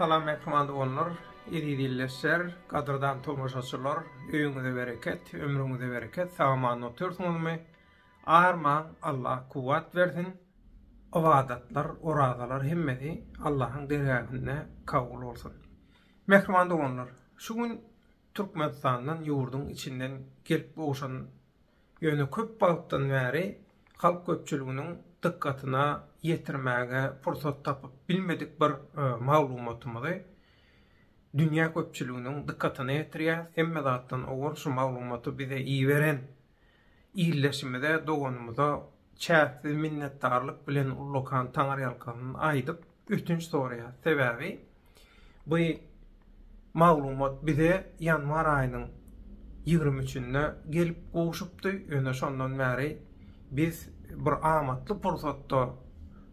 Salam mähriban doganlar, eziz ildeşler, gadyrdan tomaşaçylar, öýüňize bereket, ömrüňize bereket, sag-aman otursyňyzmy? Arman, Alla kuwwat bersin. Ybadatlar, orazalar hemmesi Allahyň dergähinde kabul bolsun. Mähriban doganlar, şu gün Türkmenistandan ýurduň içinden gelip gowşan ýöne köp wagtdan bäri halk köpçüliginiň dykgatyna ýetirmäge pursat tapyp bilmedik bir maglumatymyzy dünýä köpçüliginiň dykgatyna ýetirýäs. Hemme zatdan owal şu maglumaty bize iberen Ildeşimize, doganymyza çäksiz minnetdarlyk bilen ullakan taňyrýalkasyn aýdyp, ötünç soraýarys. Sebäbi bu maglumat bize ýanwar aýynyň ýigrimi üçünde gelip gowşupdy, ýöne şondan bäri biz bir amatly pursatda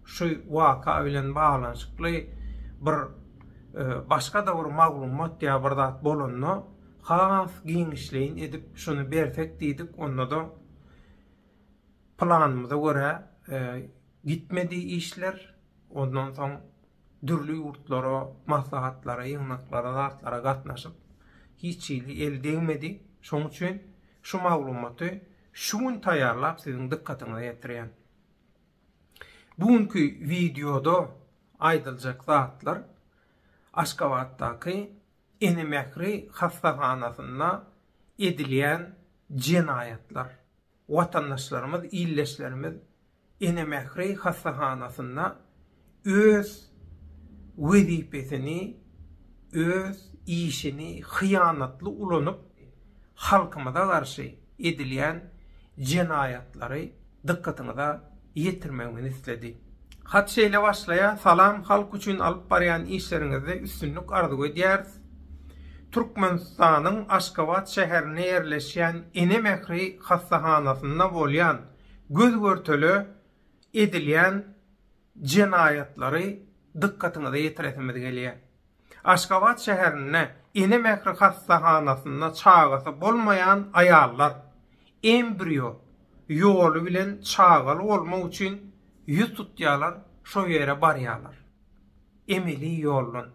şu waka bilen baglanyşykly bir başga-da bir maglumat ýa bir zat bolanda, Has giňişleýin edip şuny bersek diýdik, onda-da planymyza görä gitmedi işler. Ondan soň dürli ýurtlara maslahatlara, ýygnaklara, zatlara gatnaşyp, hiç hili el degmedi. Şonuň üçin şu maglumaty şu gün taýýarlap siziň dykgatyňyza ýetirýän. Bu günki wideoda aýdyljak zatlar Aşgabatdaky Ene mähri hassahanasynda edilýän jenaýatlar. Watandaşlarymyz, ildeşlerimiz Ene mähri hassahanasynda öz wezipesini, öz işini hyýanatly ulanyp, halkymyza garşy edilýän jenaýatlary, dykgatyňyza ýetirmegimizi isledi. Hat şeýle başlaýar, Salam, halk üçin alyp barýan işleriňizde üstünlik arzuw edýäris. Türkmenistanyň Aşgabat şäherinde ýerleşýän Ene mähri hassahanasynda bolýan göz-görtele edilýän jenaýatlary dykgatyňyza ýetiresimiz gelýär. Aşgabat şäherinde Ene mähri hassahanasynda çagasy bolmaýan aýallar embrio ýoly bilen çagaly bolmak üçin ýüz tutýarlar, şo ýere barýarlar. Emeli ýoldan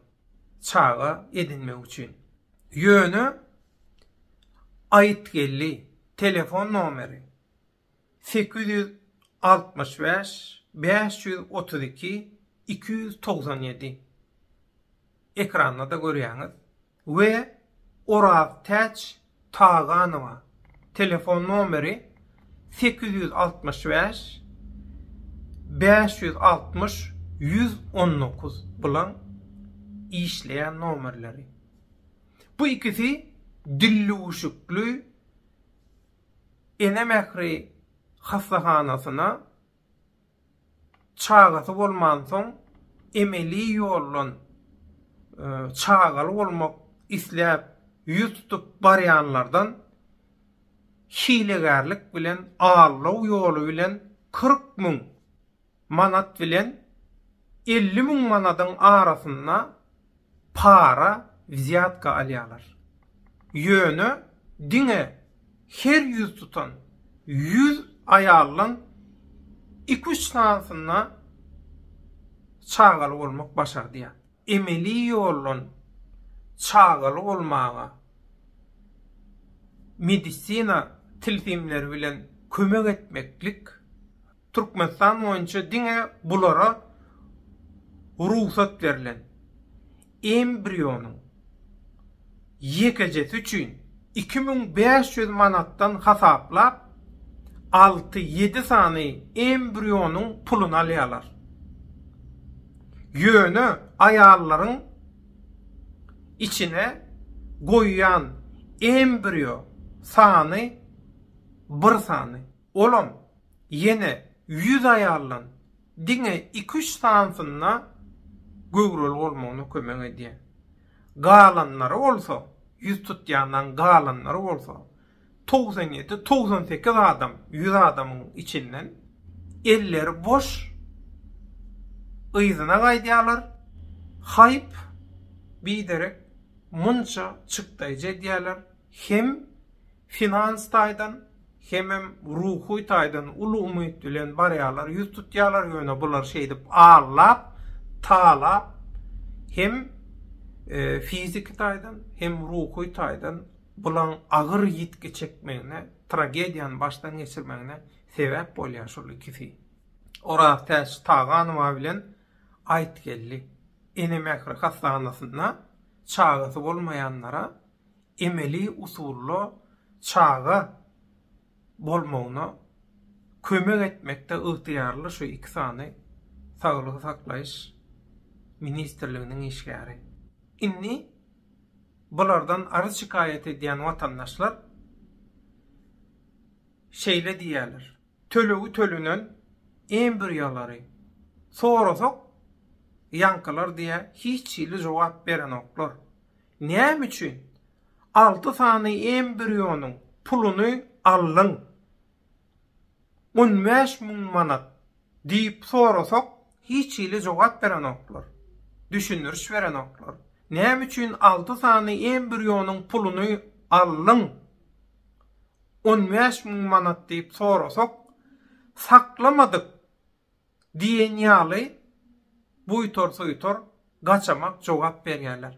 çaga edinmek üçin. Ýöne aýytgeldi, telefon nomeri, sekiz ýüz altmyş bäş bäş ýüz otuz iki iki ýüz togsan ýedi ekranda-da görýäňiz we Oraztäç Taganowa telefon nomeri sekiz ýüz altmyş bäş bäş ýüz altmyş ýüz on dokuz bulaň işleýän nomerleri bu ikisi dillüwüşikli Ene mähri hassahanasyna çagasy bolmansoň emeli ýoldan çagaly bolmak isläp ýüz tutup barýanlardan hilegärlik bilen aldaw ýoly bilen kyrk müň manat bilen elli müň manadyň arasynda para, wzýatka, alýarlar. Ýöne diňe her ýüz tutan ýüz aýaldan iki-üç sanysyna çagaly bolmak başardýar. emeli ýoldan çagaly bolmaga, medisina tilsimleri bilen kömek etmeklik Türkmenistan boýunça diňe bulara rugsat berlen. Embrionyň. ýekejesi üçin iki müň bäş ýüz manatdan hasaplap, alty-ýedi sany embrionyň puluny alýarlar. Ýöne aýallaryň içine goýýan embrýo sany bir sany. Olam ýene ýüz aýaldan diňe iki-üç sanysynda göwreli bolmagyna kömek edýär. galanlary bolsa, ýüz tutýanlaryň galanlary bolsa, togsan ýedi, togsan sekiz adam, ýüz adamyň içinden elleri boş yzyna gaýdýarlar, haýp, biderek munça çykdaýjy edýärler hem Finans taýdan hemem ruhy taýdan uly umyt bilen barýarlar, ýüz tutýarlar, ýöne bular şeýdip allap, talap hem fiziki taýdan, hem ruhy taýdan bulaň agyr ýitgi çekmegine, tragediýany başdan geçirmegine sebäp bolýar şol ikisi. Oraztäç Taganowa bilen Aýtgeldi Ene mähri hassahanasynda çagasy bolmaýanlara emeli usulda çaga bolmagyna kömek etmekde ygtyýarly şu iki sany Saglygy saklaýyş ministrliginiň işgäri. Indi bulardan arz-şikaýat edýän watandaşlar şeýle diýýärler, Tölegi tölenen embriolary sorasak, ýaňkylar diýýär, hiç hili jogap berenoklar. Näme üçin alty sany embrionyň puluny aldyň? On bäş müň manat diýip sorasak, hiç hili jogap berenoklar. Düşündiriş berenoklar. Näme üçin alty sany embrionyň puluny aldyň? On bäş müň manat diýip sorasak, saklamadyk Diýen ýaly buýtar-suýtar gaçamak jogap berýärler.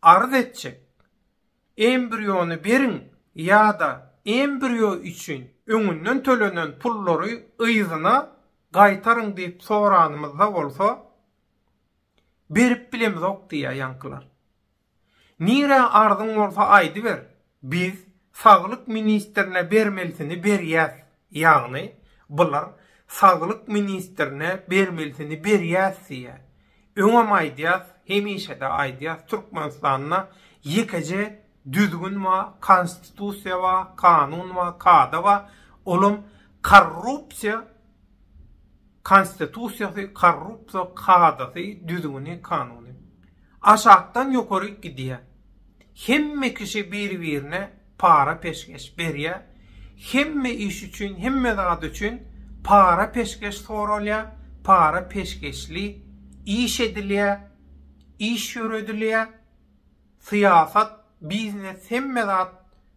Arz etjek, embriony beriň ýa-da embrýo üçin öňünden tölenen pullary yzyna gaýtaryň diýip soranymyzda bolsa, berip bilemizok diýýär ýaňkylar. Nirä arzyň bolsa aýdyber, biz saglyk ministrine bermelisini berýäs, ýagny bular saglyk ministrine bermelisini berýäs diýýä. Öňem aýdýas, hemişede aýdýas, Türkmenistanda ýekeje düzgün ba, konstitusiýa ba, kanun ba, kada ba, olam korrupsiýa Konstitusiýasy, korrupsiýa kadasy, düzgüni, kanuny. Aşakdan ýokaryk gidýär. Hemme kişi bir-birine para peşgeş berýär. Hemme iş üçin, hemme zat üçin para peşgeş soralýar, para peşgeşli iş edilýär, iş ýöredilýär. Syýasat, biznes, hemme zat,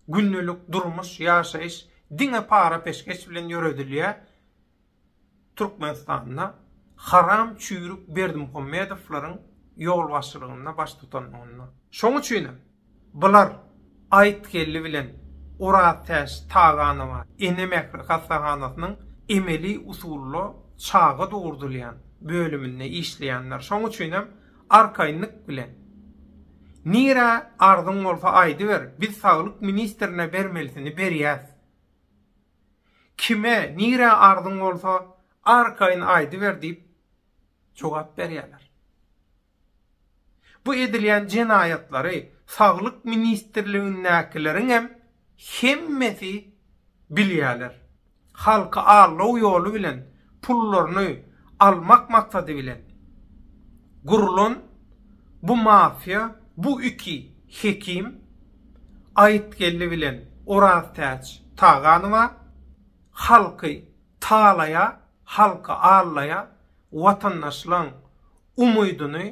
gündelik durmuş, ýaşaýyş diňe para peşgeş bilen ýöredilýär. Türkmenistanda haram çüýrük Berdimuhamedowlaryň ýolbaşçylygynda baş tutanlygynda. Şoň üçinem, bular Aýytgeldi bilen Oraztäç Taganowa Ene mähri hassahanasynyň emeli usulda çaga dogurdylýan bölüminde işleýänler. Şoň üçinem, arkaýynlyk bilen, Nirä arzyň bolsa aýdyber, biz saglyk ministrine bermelisini berýäs. Kime, nirä arzyň bolsa, arkaýyn aýdyber diýip, jogap berýärler. Bu edilýän jenaýatlary Saglyk ministrligindäkileriňem hemmesi bilýärler. Halky aldaw ýoly bilen pullaryny almak maksady bilen gurlan bu mafiýa, bu iki hekim, Aýytgeldi bilen Oraztäç Taganowa halky talaýa, halky allaýa, watandaşlaň umydyny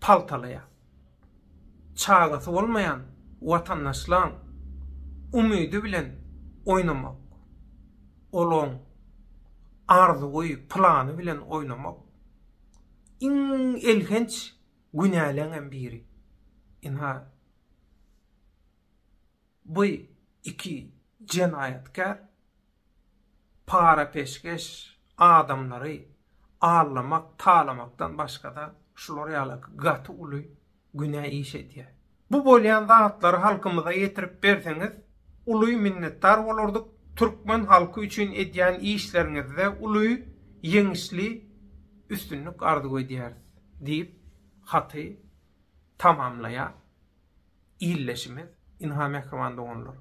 paltalaýa. Çagasy bolmaýan watandaşlaň umydy bilen oýnamak, olaň arzuwy, plany bilen oýnamak iň elhenç Günäleňem biri. Ynha, bu iki jenaýatkär para-peşgeş adamlary allamak, talamakdan başga-da şular ýaly gaty uly günä iş edýär. Bu bolýan zatlary halkymyza ýetirip berseňiz uly minnetdar bolardyk, türkmen halky üçin edýän işleriňizde uly ýeňişli üstünlik arzuw edýäris diýip haty tamamlaýar ildeşimiz. Ynha mähriban doganlar,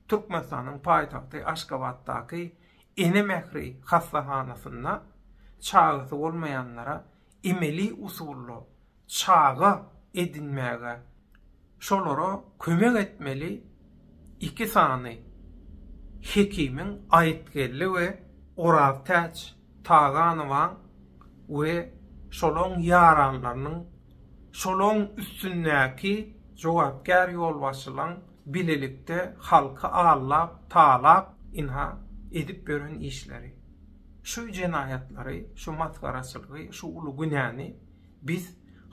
Türkmenistanyň paýtagty Aşgabatdaky Ene mähri hassahanasynda çagasy bolmaýanlara emeli usulda çaga edinmäge şolara kömek etmeli iki sany hekimiň Aýytgeldi we Oraztäç Taganowaň we şolaň ýaranlarynyň şolaň üstündäki jogapkär ýolbaşçylaň bilelikde halky aldap talap ynha edip ýören işleri şu jenaýatlary şu masgaraçylygy şu uly günäni Biz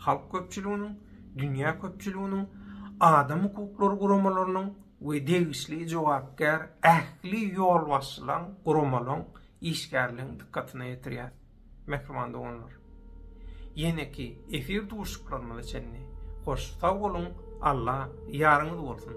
halk köpçüliginiň, dünýä köpçüliginiň, adam hukuklary guramalarynyň we degişli jogapkär ähli ýolbaşçylaryň, guramalaryň, işgärleriň dykgatyna ýetirýäris. Mähriban doganlar! Ýeneki efir duşuşyklarymyza çenli hoş sag boluň! Allah ýaryňyz bolsun.